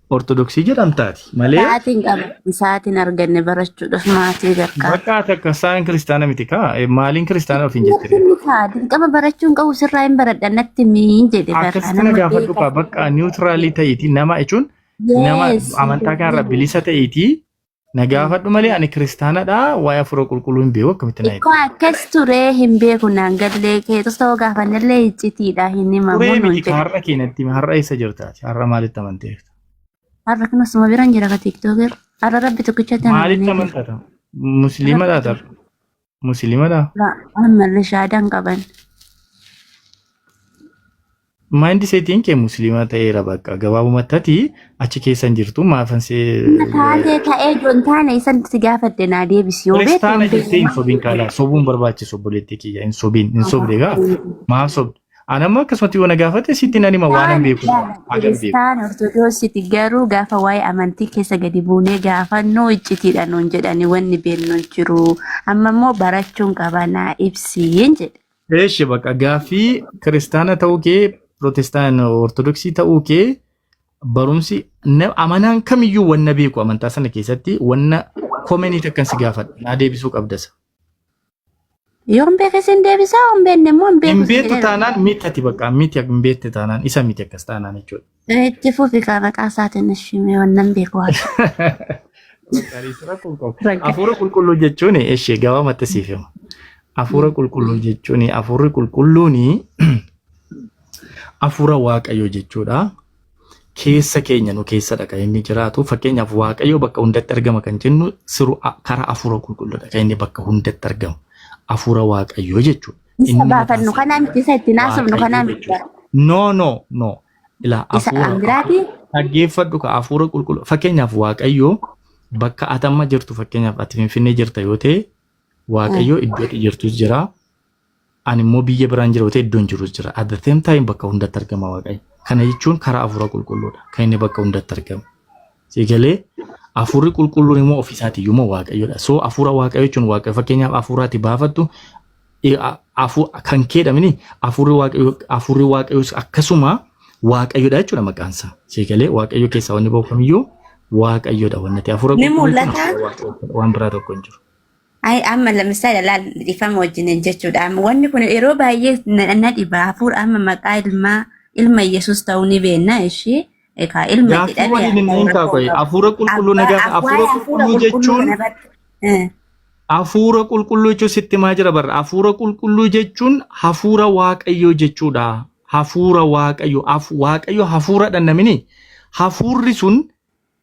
Ortodoksii jedhamta ati malee Sa'aatiin qaba. Sa'aatiin arganne barachuudhaaf maatii gargaara. bakka ati akka isaan kiristaana miti kaa Eh, maaliin kiristaana ofiin jette Inni kaa dirqama barachuun qabu sirraa hin baradha natti miin jedhe barraa akkasitti na nama gaafadhu kaa beekaa. bakka niwutiraalii ta'iiti nama jechuun nama Yes. amantaa kanarra bilisa ta'iiti Na gaafadhu malee ani kiristaanadha waa'ee hafuura qulqulluu hin beeku akkamitti na Ikkoo akkas ture hin beeku naan gallee keetus ta'uu gaafannellee iccitiidha hin himamu Turee nuun miti ka jedhe. har'a keenyatti hime har'a eessa jirtaati har'a maalitti amanteef Har'a kun osuma biraan jira ka tiktooker. Har'a rabbi tokkichatti maalitti amanamee jira. amantata musliima taata musilimadha Ammallee shaadaan qaban. maayindi seetiin kee muslima ta'eera bakka gabaabumatti ati achi keessa hin jirtu maafan see Taatee ta'ee jiru hin taane isan si gaafadhe naa deebisi yoo beekte. kiristaana jettee hin sobiin kaala sobuun barbaachisu obboleettii kiyya hin sobiin hin sobde gaa maaf sobde Anammoo akkasumatti yoo na gaafate sitti nan hima waan hin beeku waan hin beeku. Kiristaan Ortodoksiti garuu gaafa waa'ee amantii keessa gadi buunee gaafannuu iccitiidha nuun jedhani wanni beennu hin jiru. Amma immoo barachuun qabanaa ibsiin jedhe. Eeshi bakka gaaffii kiristaana ta'uu kee pirootestaan ortodoksii ta'uu kee barumsi na- amanaan kamiyyuu wanna beeku amantaa sana keessatti wanna komenii takkan si gaafadha naa deebisuu qabdasa. Yoo hin beekne sin deebisaa, yoo hin beekne immoo hin beeku. Hin si beektu jedhee taanaan miti ati bakka miti hin beekte taanaan isa miti akkas taanaan jechuudha. beeka. Itti fufi kaa maqaa isaatiin ishii mee waan nan beeku waan. Qaaliitti rakkoon qabu. Rakka. Hafuura qulqulluu jechuun ishee gabaabatti siif hima. Hafuura qulqulluu jechuun hafuurri qulqulluun hafuura waaqayyoo jechuudha. keessa keenya nu keessadha kan inni jiraatu. Fakkeenyaaf Waaqayyo bakka hundatti argama kan jennu siru a- karaa hafuura qulqulluudha kan inni bakka hundatti argamu. Hafuura Waaqayyoo jechuudha. Isa Inni mataan baafannu isaa kanaa miti isa itti naasofnu Waaqayyo kanaa miti. jechuudha. No, no, no. Ilaa Isa hafuura an biraati dhaggeeffadhu ka hafuura qulqulluu fakkeenyaaf Waaqayyo bakka atamma jirtu fakkeenyaaf ati Finfinnee jirta yoo ta'e Waaqayyo iddoo ati jirtus jira Ani immoo biyya biraan jira otee iddoon jirus jira. At the same time bakka hundatti argama Waaqayyo. Kana jechuun karaa hafuura qulqulluudha. Kan inni bakka hundatti argamu. Si galee hafuurri qulqulluun immoo ofiisaati iyyuu immoo Waaqayyoodha. So hafuura Waaqayyo jechuun Waaqayyo fakkeenyaaf hafuuraati baafattu eh, a- hafu- kan keedhamini hafuurri Waaqayyo hafuurri Waaqayyoos akkasuma Waaqayyoodha jechuudha maqaan isaa. Si galee Waaqayyo keessaa wanni ba'u kamiyyuu Waaqayyoodha wanni ta'e hafuura Ni qulqulluu jechuun mul'ata. hafuura Waaqayyo waan biraa tokko hin jiru. Ay amma lamisaa ilaal dhifama wajjiniin jechuudha. Amma wanni kun yeroo baay'ee na na dhiba hafuura amma maqaa ilmaa ilma Yesuus ta'uu ni beekna ishii egaa ilma Gaaffii jedhame waliin hin hafuura hiikaa koo koyi. qaba. Hafuura qulqulluu na Abbaa gaafa. abbaa Hafuura hafuura qulqulluu qulqulluu jechuun kana barta. Eh, hafuura qulqulluu jechuun sitti himaa jira barra. Hafuura qulqulluu jechuun hafuura waaqayyoo jechuudha. Hafuura waaqayyoo. Haf- Waaqayyo hafuuradha namini. Hafuurri sun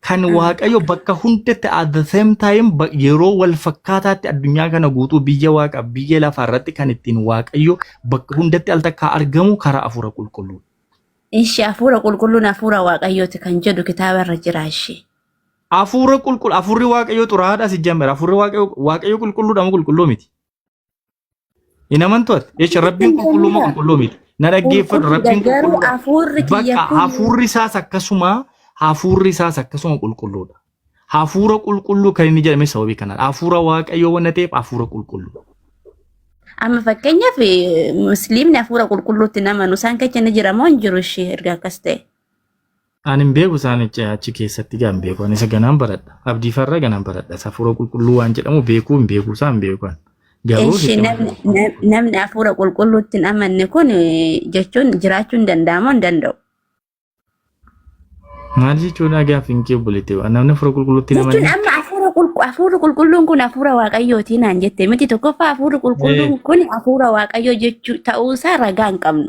kan Mm. waaqayyo bakka hundatti at the same time ba- yeroo wal fakkaataatti addunyaa kana guutuu biyya waaqa biyya lafaa irratti kan ittiin waaqayyo bakka hundatti al takkaa argamu karaa afuura qulqulluu. Ishee hafuura qulqulluun hafuura waaqayyooti kan jedhu kitaaba irra jira ishee. Afuura qulqulluu afuurri waaqayyo xuraadha si jamera afuurri waaqayyo waaqayyo qulqulluudha moo qulqulluu miti. Hin amantu ati. Jecha rabbiin Hin qulqulluu moo amanina. qulqulluu miti. Na dhaggeeffadhu Qulqulluudha rabbiin garuu qulqulluu. hafuurri kiyya Bakka kun hafuurri isaas akkasuma hafuurri isaas akkasuma qulqulluudha. Hafuura qulqulluu kan inni jedhame sababii kanaan hafuura waaqayyoo waan ta'eef hafuura qulqulluu. amma fakkeenyaaf eh, musliimni hafuura qulqulluutti hin amanu isaan keessa ni jira moo hin jiru ishee erga akkas ta'e. Ani hin beeku isaan icca achi keessatti gaa hin beeku. Ani isa ganaan baradha. Abdii farra ganaan baradha. Isa hafuura qulqulluu waan jedhamu beekuu hin beeku isaa hin beeku. ani. Garuu Eshi sitti namni nam- namni hafuura qulqulluutti hin amanne kun eh, jechuun jiraachuu hin danda'amu hin danda'u. maal jechuudha gaafi hin kee obboleetti namni hafuura qulqulluutti hin Jechuun amanne. amma hafuura qulqu- hafuurri qulqulluun kun hafuura waaqayyooti naan jette miti tokkoffaa hafuurri qulqulluun kun hafuura waaqayyoo jechuu ta'uusaa ragaa hin qabnu.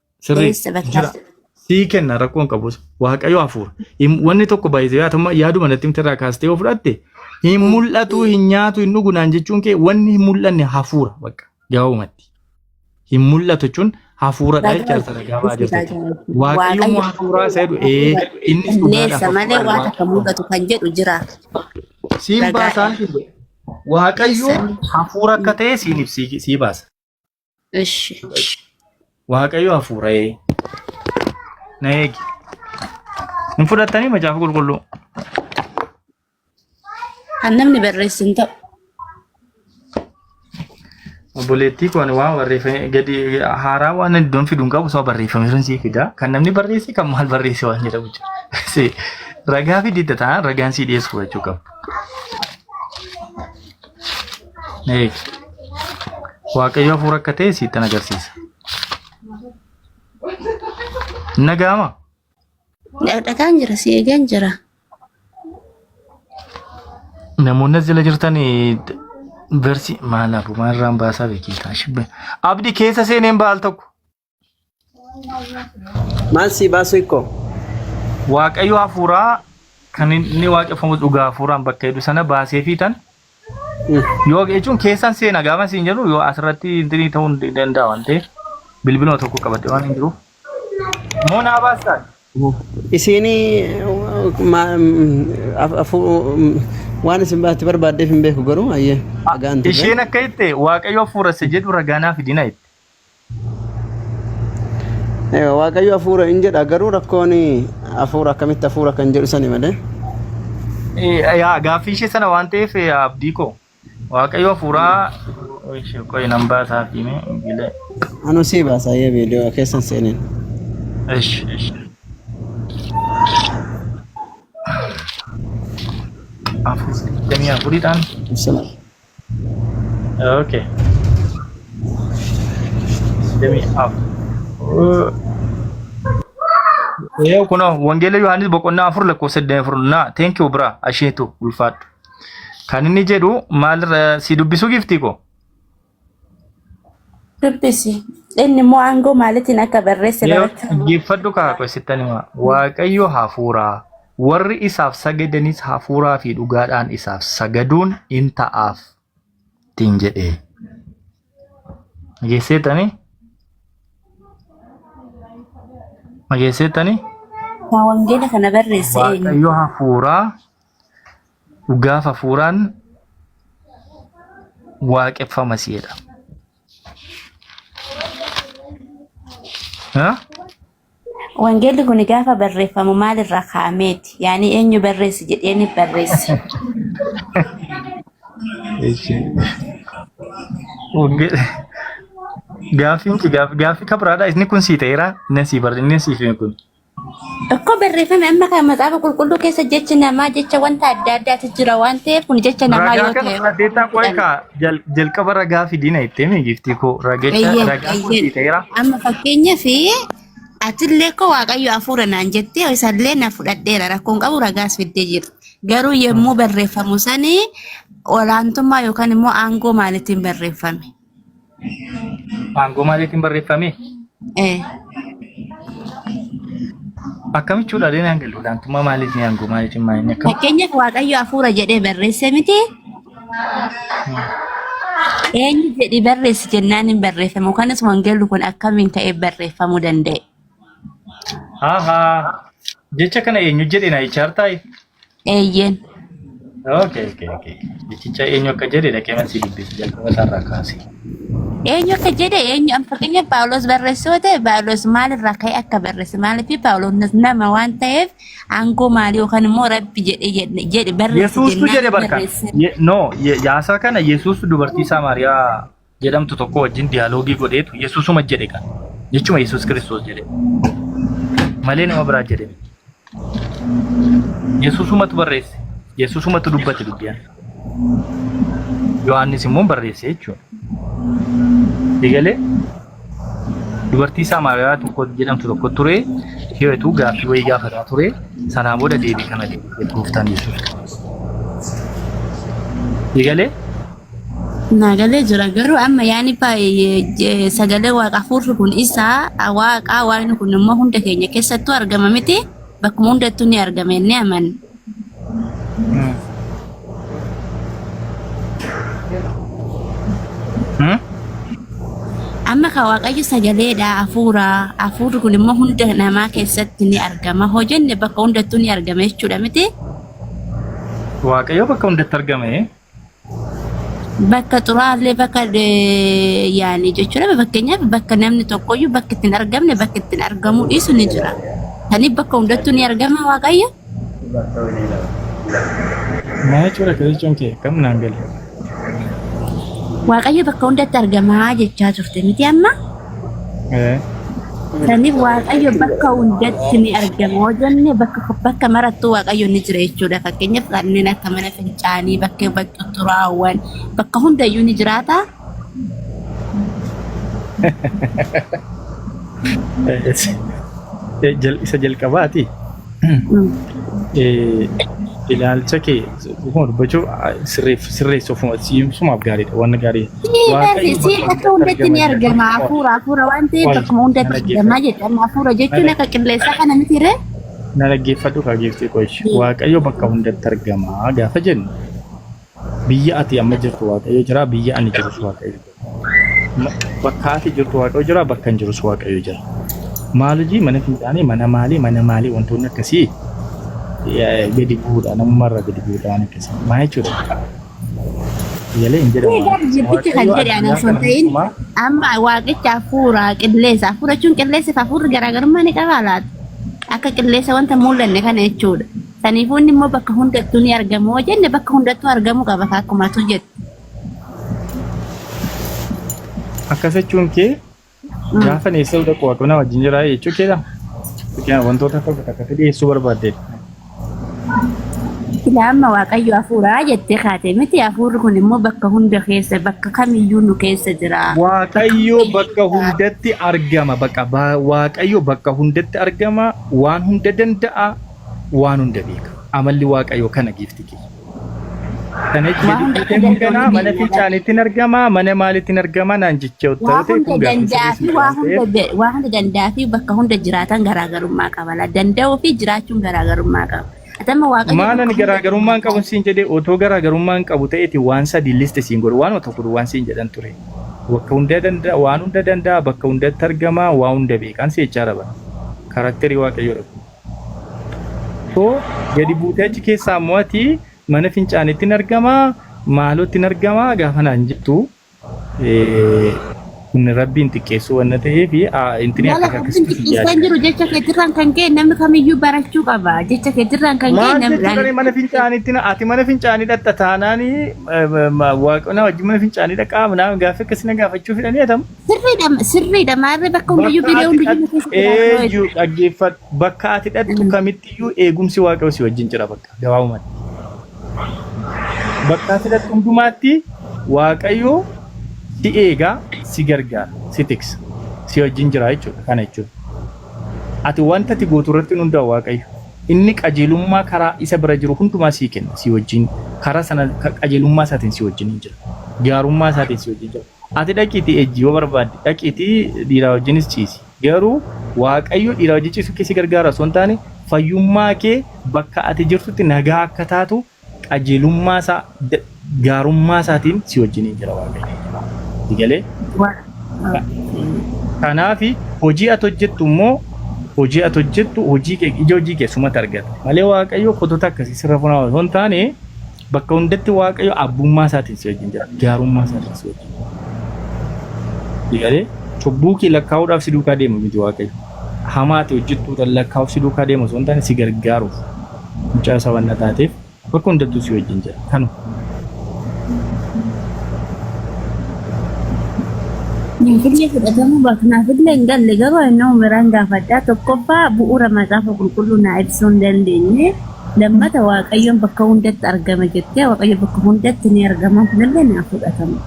Sirrii Eessa bakka? jira. Sii kenna rakkoon qabus waaqayyo hafuura. Hin- Wanni tokko baay'isee atuma yaaduma natti miti irraa kaastee yoo fudhatte hin mul'atu hin nyaatu hin dhugu naan jechuun kee wanni hin mul'anne hafuura bakka gabaabumatti. Hin mul'atu jechuun hafuuradha jecha isa ragaa ba'a jirtu jechuudha. Waaqayyo immoo hafuuraa isa jedhu ee innis dhugaadha. Leessa malee hafuuraa waan Waaqayyo. akka mul'atu kan jedhu jira. Siin Ragaa- baasaa hin Waaqayyo hafuura akka ta'e siin ibsii sii baasa. Ishi. Waaqayyo hafuura'ee na eegi. Hin fudhattanii macaafa qulqulluu. Kan namni barreessu hin ta'u. Obboleettii kun waan barreeffame gadi haaraa waan iddoon fidu hin qabu soo barreeffame sun sii fida. Kan namni barreesse kan maal barreesse waan jedhamu jira. Si ragaa fididda ta'a ragaan sii dhiyeessu jechuu qabu. Na eegi. Waaqayyo hafuura akka ta'e siittan agarsiisa. Hin dhaga'ama? Dhaqaan jira si eegan jira. Namoonni as jala jirtan versi maal abu maal irraan baasaa beekiitaa shibbe. Abdi keessa seeneen baal tokko. Maal sii baasu ikkoo? Waaqayyo hafuuraa kan inni waaqeffamu dhugaa hafuuraan bakka jedhu sana baasee fi tan yoo jechuun keessan seena gaafa siin jedhu yoo asirratti intinii ta'uu hin danda'a waan ta'eef bilbiluma tokko qabadhe waan hin jiruuf. Moo naa baastaan? Isiini waan isin baatti barbaaddeef hin beeku garuu ayyee dhagaan turre. Isheen akka jette waaqayyo hafuura isa jedhu ragaa naa fidina jette. Egaa Waaqayyo hafuura hin jedha garuu rakkoon hafuura akkamitti hafuura kan jedhu sani malee. Eh, Yaa gaaffii ishee sana waan ta'eef eh, abdii koo waaqayyo hafuuraa ishee qoyi nan baasaa fi mee gilee. Anu sii baasaa yee viidiyoo keessan seeneen. Ish, ish. Afur, digdamii afuridhaan. Ibsama. Okay. Let me up. Yoo kun wangeela Yohaannis boqonnaa afur lakkoofsa 24 naa thank you bra asheetu ulfaadhu. Kan inni jedhu maal si dubbisuu giftii koo? Dubbisi. Inni immoo aangoo maalitiin akka barreesse Yoo barachaa dhaggeeffadhu kaa qo'essittan himaa. Waaqayyo hafuuraa. Warri isaaf sagadanis hafuuraa fi dhugaadhaan isaaf sagaduun in ta'aaf ittiin jedhe. Dhageesseetanii? Dhageesseetanii? Kan wangeela kana barreesse eenyu? Waaqayyo hafuuraa dhugaaf hafuuraan waaqeffama si'edha. Ha? Wangeelli kun gaafa barreeffamu maalirraa kaa'ameeti? Yaani eenyu barreesse jedheeni barreesse? Eeshi. Wange- Gaaffiin kee gaaf- gaaffii kabiraadha. Inni kun sii ta'eera. Inni sii barre inni siif hime kun. Tokko barreeffame amma kan maxaafa qulqulluu keessa jechi namaa jecha wanta adda addaatu jira waan ta'eef kun jecha namaa Ragaa yoo kana ta'e. fudhateettaa qo'ee kaa Jal- Jalqaba ragaa fidina itti himi giftii koo ragicha Eeyyeen, ragaa koo eeyyeen. siiteera. Amma fakkeenyaaf atillee koo waaqayyo hafuura naan jettee isallee na fudhadheera rakkoon qabu ragaas fiddee jirti. Garuu yommuu barreeffamu sani olaantummaa yookaan immoo aangoo maaliitiin barreeffame? Aangoo maaliitiin barreeffame? Eh, Akkamitti fuudhalee naan galu? Olaantummaa maaliitiin aangoo maaliitiin maaliin akkam? Fakkeenyaaf waaqayyo hafuura jedhee barreesse miti Eenyu jedhi barreessi jennaan hin barreeffamu. Kanas wangeelli kun akkamiin ka'ee barreeffamuu danda'e? Ahaa. Jecha kana eenyu jedhe na ichaartaa? Eeyyeen. Okay, okay, okay. Jechicha eenyu akka jedhe dhaqee marsii dubbisi jalqaba isaarraa kaase. Eenyu akka jedhe eenyu amma fakkeenyaaf Paawulos barreessuu ta'e Paawulos maalirraa ka'ee akka barreesse maaliif Paawulos nama waan ta'eef Aangoo maali yookaan immoo rabbi jedhe jedhe jedhe barreessi Yesuustu jennaan jedhe barkan. barreesseera. Ye- No, ye- yaasaa kana Yesuustu dubartii Saamaariyaa jedhamtu tokko wajjin diyaaloogii godheetu Yesuusuma jedhe kan. Jechuma Yesuus Kiristoos jedhe. Malee nama biraa jedhe miti. Yesuusumatu barreesse. Yesuusumatu dubbate dubbiyaa. Yohaannis immoo barreesse jechuudha. Eegalee dubartii Saamaariyaa tokko jedhamtu tokko ture hiretu gaaffii wayii gaafataa ture sanaa booda deebii kana deebisee gooftaan Yesuus. Eegalee Naagalee jira garuu amma yaani baay'ee sagalee waaqa hafuurri kun isaa waaqaa waaqni kun immoo hunda keenya keessattuu argama miti bakkuma hundattuu ni argama inni amanna. amma ka waaqayyo sagaleedha hafuura hafuurri kun immoo hunda namaa keessatti ni argama hojenne bakka hundattuu ni argama jechuudha miti waaqayyo bakka hundatti argame bakka xuraa'aallee bakka yaani jechuudha fakkeenyaaf bakka namni tokkoyyuu bakka ittiin argamne bakka ittiin argamuu dhiisu ni jira. Kaniif bakka hundattuu ni argama waaqayyo. Maa jechuudha akka jechuun kee kam naan gale. Waaqayyo bakka hundatti argamaa jechaa turte miti amma. Saniif Waaqayyo bakka hundatti ni argama. Yoo jenne bakka, bakka marattuu Waaqayyo ni jira jechuudha. Fakkeenyaaf kanneen akka mana fincaanii, bakka bakka xuraawwan, bakka hundayyuu ni jiraata. Isa jalqabaati. Ilaalcha kee Dhuguma dubbachuu sirreef sirreessu ofuma siimsumaaf gaariidha waan gaarii. Waaqayyo Siif akka hundatti ni argama hafuura hafuura waan ta'eef bakkuma hundatti argama jedhan hafuura jechuun akka qilleensaa kana miti ree. Na dhaggeeffadhu kaa geeftee qoish. Waaqayyo bakka hundatti argama gaafa jennu biyya ati amma jirtu waaqayyo jira biyya ani jirus waaqayyo. Bakka ati jirtu Waaqayyo jira, bakka hin jirus Waaqayyo jira. Maal hojii mana fincaanii, mana maalii, mana maalii wantoonni akkasii gadi bu'uudha. Namummaa irraa gadi bu'uudha waan akkasii. Maa jechuudha? Yalee hin jedhamu. Egaa jirtichi kan jedhe ana osoo hin ta'in amma waaqicha hafuura qilleensa hafuura jechuun qilleensa fi hafuurri garaagarummaa ni qabaa laata? Akka qilleensa wanta mul'anne kana jechuudha. Saniifuu inni immoo bakka hundattuu ni argamu. Hoo jenne bakka hundattuu argamuu qaba akkuma tu jette. Akkas jechuun kee gaafa neessa hunda qo'atu na wajjin jira jechuu keedha. Fakkeenyaaf wantoota akka fakkaataa dhiyeessuu barbaadde. Silaa amma Waaqayyo hafuuraa jettee kaate miti hafuurri kun immoo bakka hunda keessa bakka kamiyyuu nu keessa jira. Waaqayyo bakka hundatti argama. Bakka ba- Waaqayyo bakka hundatti argama. Waan hunda danda'a. Waan hunda beeka. Amalli Waaqayyo kana giifti kee. Waa hunda Jechuun kun ganaa danda'u mana danda'u. fincaanittiin argama mana maalittiin argama naan jechuu Waa ta'u ta'e hunda kun gaaffii danda'a sirrii fi miti waa waan hunda ta'eef be- waa hunda danda'a fi bakka hunda jiraatan garaagarummaa qaba. La danda'uu fi jiraachuun garaagarummaa qaba. Ati amma waaqayyo maalan bakka hunda garaagarummaa hin qabun jiraata. siin jedhee otoo garaagarummaa hin qabu ta'eeti waan sadii listi siin godhu waanuma tokko duwwaan siin jedhan ture. Bakka hunda danda'a waan hunda danda'a bakka hundatti argama waa hunda beekaan si jechaa dha bara. Karakterii waaqayyoo dha kun. Koo gadi buutee achi keessaa immoo ati mana fincaanitti hin argamaa maalootti hin argamaa gaafa naan jettu eh, inni rabbiin xiqqeessuu wanna ta'eef ah, intini Mala akkas akkas rabbiin kisi xiqqeessaa hin jiru jecha keetirraan kan ka'e namni kamiyyuu barachuu qaba. Jecha keetirraan kan ka'e Maal namni jechuudha mana fincaanitti na- ati mana fincaanii dhaqxa taanaani eh, ma- ma- waaqona wajjin mana fincaanii dhaqaa naam gaaffii akkasii na gaafachuu fidhanii atamu. Sirriidha sirriidha maarree bakka hundayyuu Bakka viidiyoo ati hundayyuu na dhattu keessa jira kunoo eenyu eessa. dhaggeeffadhu. Bakka ati dhattu kamittiyyuu eegumsi waaqayyoo si wajjin jira bakka gabaabumatti. Bakka ati dhattu hundumaatti waaqayyoo si eegaa, si gargaara, si tiksa, si wajjin jira jechuudha. Kana jechuudha. Ati wanta ati gootu irratti hin hundaa'u waaqayyo. Inni qajeelummaa karaa isa bira jiru hundumaa sii kenna, si wajjin karaa sana ka- qajeelummaa isaatiin si wajjin hin jira. Gaarummaa isaatiin si wajjin jira. Ati dhaqiitii ejji yoo barbaadde dhaqiitii dhiiraa wajjinis ciisi. Garuu Waaqayyo dhiiraa wajjin ciisuu kee si gargaara osoo hin taane fayyummaa kee bakka ati jirtutti nagaa akka taatu qajeelummaa isaa gaarummaa isaatiin si wajjiniin jira Waaqayyo. Si galee? Kanaaf hojii ati hojjettu immoo hojii ati hojjettu hojii kee ija hojii kee sumatti argata. Malee Waaqayyo kotota akkasii sirra funaa osoo hin taane Bakka hundatti Waaqayyo abbummaa isaatiin si wajjin jira. Gaarummaa isaatiin si wajjin jira. Ilalee cubbuu kee lakkaa'uudhaaf si duukaa deemu miti Waaqayyo. Hamaa ati hojjettu tan lakkaa'uuf si duukaa deemu osoo hin taane si gargaaruuf mucaa isaa wanna taateef bakka hundattuu si wajjin jira. Kanu Finfinnee fudhatamuu baaknaaf illee hin galle garuu inni umiraan gaafadhaa tokkoffaa bu'uura macaafa qulqulluu naa ibsuu hin dandeenye. Lammata Waaqayyoon bakka hundatti argama jettee Waaqayyo bakka hundatti ni argama kunillee ni fudhatama.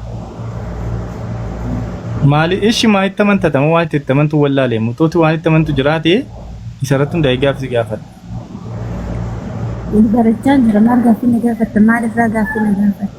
Maali ishi maa itti amantata moo waan itti itti amantu wallaalee muxuuti waan itti amantu jiraate isarratti hundaa'ee gaafsi gaafadha. Wal barachaa jira maal gaaffii na gaafatta maal irraa gaaffii na gaafatta.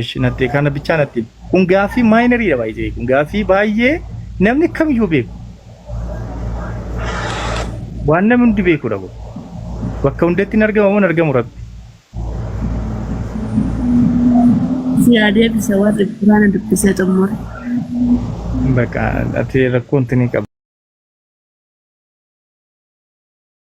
Ishi natti kana bichaa natti himi. Kun gaaffii maayinariidha baay'ee kun gaaffii baay'ee namni kamiyyuu beeku. Waan namni hundi beekudha kun. Bakka hundatti hin argamu hin argamu rabbi. Si haa deebisa warri Quraana dubbisee xumure. Bakka ati rakkoon tini qaba.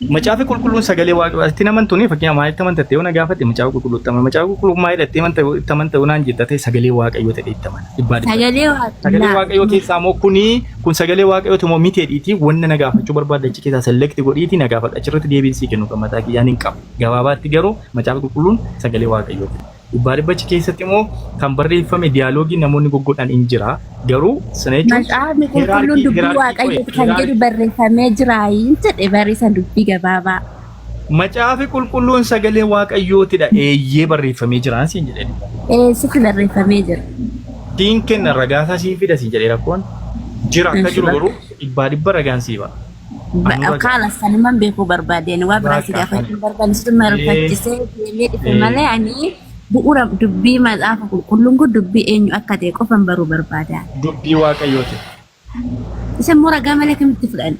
Macaafi qulqulluun sagalee waaqayyoo itti naman tuni fakkeenya maal itti amanta ta'e na gaafate macaafa qulqulluu itti amana macaafa qulqulluu maal itti amanta itti amanta naan jetta ta'e sagalee waaqayyoo ta'e itti amana dhibbaa dhibbaa sagalee sagalee waaqnaa waaqayyoo keessaa moo kuni kun sagalee waaqayyoo ti moo mitee dhiitii wanna na gaafachuu barbaadda achi keessaa select godhiiti na gaafadha achirratti deebiin sii kennu kan mataa kiyyaan hin qabu gabaabaatti garuu macaafa qulqulluun sagalee waaqayyoo ti. Baaribbachi keessatti immoo kan barreeffame diyaaloogii namoonni goggodhan in jira. Garuu sana jechuun Macaafni qulqulluun dubbii waaqayyooti kan jedhu barreeffamee jira hin jedhe barreessan dubbii gabaabaa. Macaafi qulqulluun sagalee waaqayyootidha eeyyee barreeffamee jiraan siin jedhe. Ee sitti barreeffamee jira. Siin kenna ragaasaa siin fida siin jedhe rakkoon jira akka jiru garuu dhibbaa dhibba ragaan sii ba'a. Ba- Anurra ga'a. Kaala sanuman beekuu barbaadeen waa biraa si Baakka gaafachuu hin barbaanne situ kana. Ee. marfachisee deemee dhufe Ee. malee ani bu'uura dubbii macaafa qulqulluun kun dubbii eenyu akka ta'e qofan baruu barbaada. Dubbii Waaqayyooti. Isa immoo ragaa malee akkamitti fudhanna?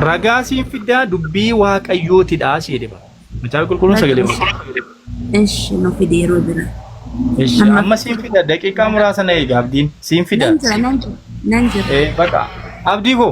Ragaa siin fiddaa dubbii Waaqayyootidha si jedhe bara. Kitaaba qulqulluun sagalee waaqayyooti. Eshi nu fide yeroo bira. Ishi Amma- amma siin fida daqiiqaa muraasa na eega abdiin siin fida. Nan jira nan jira nan jira. Eh, Baqa abdii koo.